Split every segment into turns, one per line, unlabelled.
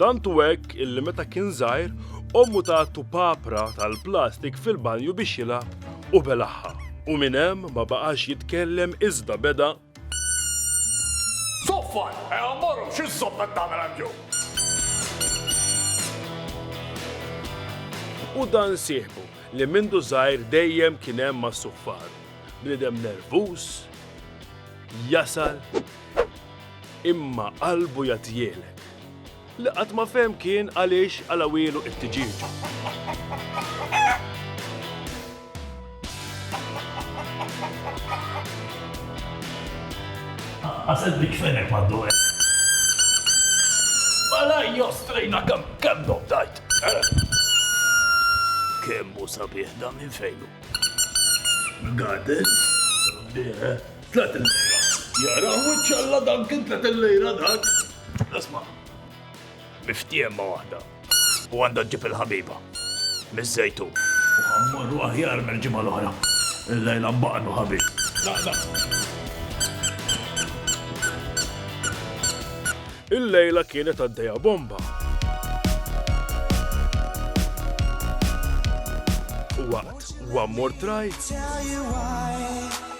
Tant u hekk illi meta kien żgħir, ommu tatlu papra tal-plastik fil-banju biex jilgħab u belagħha u minn hemm ma baqax jitkellem iżda beda. Zuffan! Eja mmorru, x'iżżomm qed tagħmel hemm jew? U dan sieħbu li mindu żgħir dejjem kien hemm mas-suffaru. Bniedem nervuż, jasal, Imma qalbu jagħtihielek. Li qatt ma fehem kien għaliex qalgħuhielu it-tiġieġa. Ħaseb li kfenek m'għaddu hekk. Mela ejja strejna kemm kemm noddajt. Kemm hu sabiħ dan minn fejn hu? Mill-garden? Sabiħ, eh? Tliet il-lejra. Jara wiċċ Alla dan kien tliet il-lejra dak. Isma'. Miftiehem ma' waħda. U għandha ġġib il-ħabiba. Miż-Żejtun. U ħa mmorru aħjar mill-ġimgħa l-oħra. Illejla nbaqgħnu ħabib. La, la. Illejla kienet għaddejja bomba. U waqt one more try.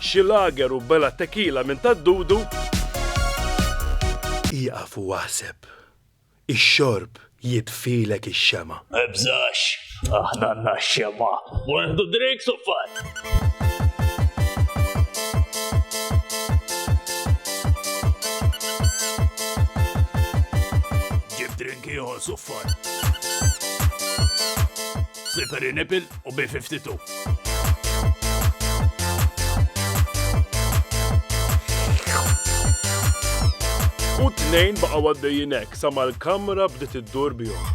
Xi lager u bela tequila minn ta' Dudu. Ieqaf u aħseb. Ix-xorb jitfilek ix-xemgħa. Mibżax, aħna għandna x-xemgħa. U nieħdu drinks u fun! Ġib drink ieħor, suffar. Slippery nipple? u B-52. U t-tnejn baqgħu għaddejjin hekk sa ma l-kamra bdiet iddur bihom.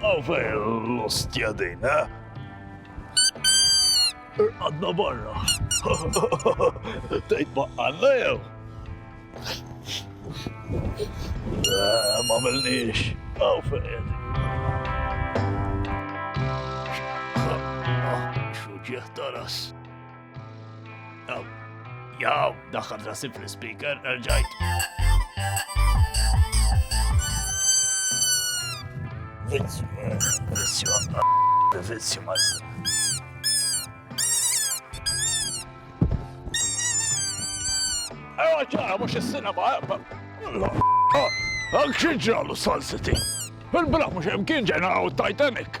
Għaw fej l-ostja din, ha? Għadna barra. Tejt baqqanna jew? Eh, ma melniex. Għaw fej. Xuġieħ taras. Jaw, daħħal rasib fl-speaker, erġajt. Vizzju, vizzju, vizzju, master. Ewa ġara, mux jessina ma' ebba. Għak xieġralu salsiti. Il-bra mux jemkien ġena għaw Titanic.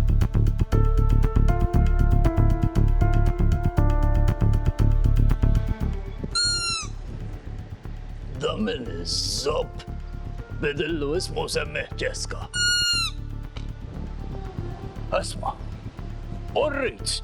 Damil iż-żobb bidillu ismu semmih Ġeska. Asma, u rrid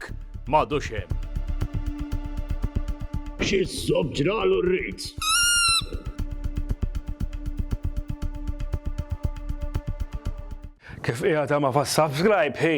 Hekk m'għadux hemm. Xi żżomm ġralu r-rit. Kif qiegħed għama fas-subscribe hi?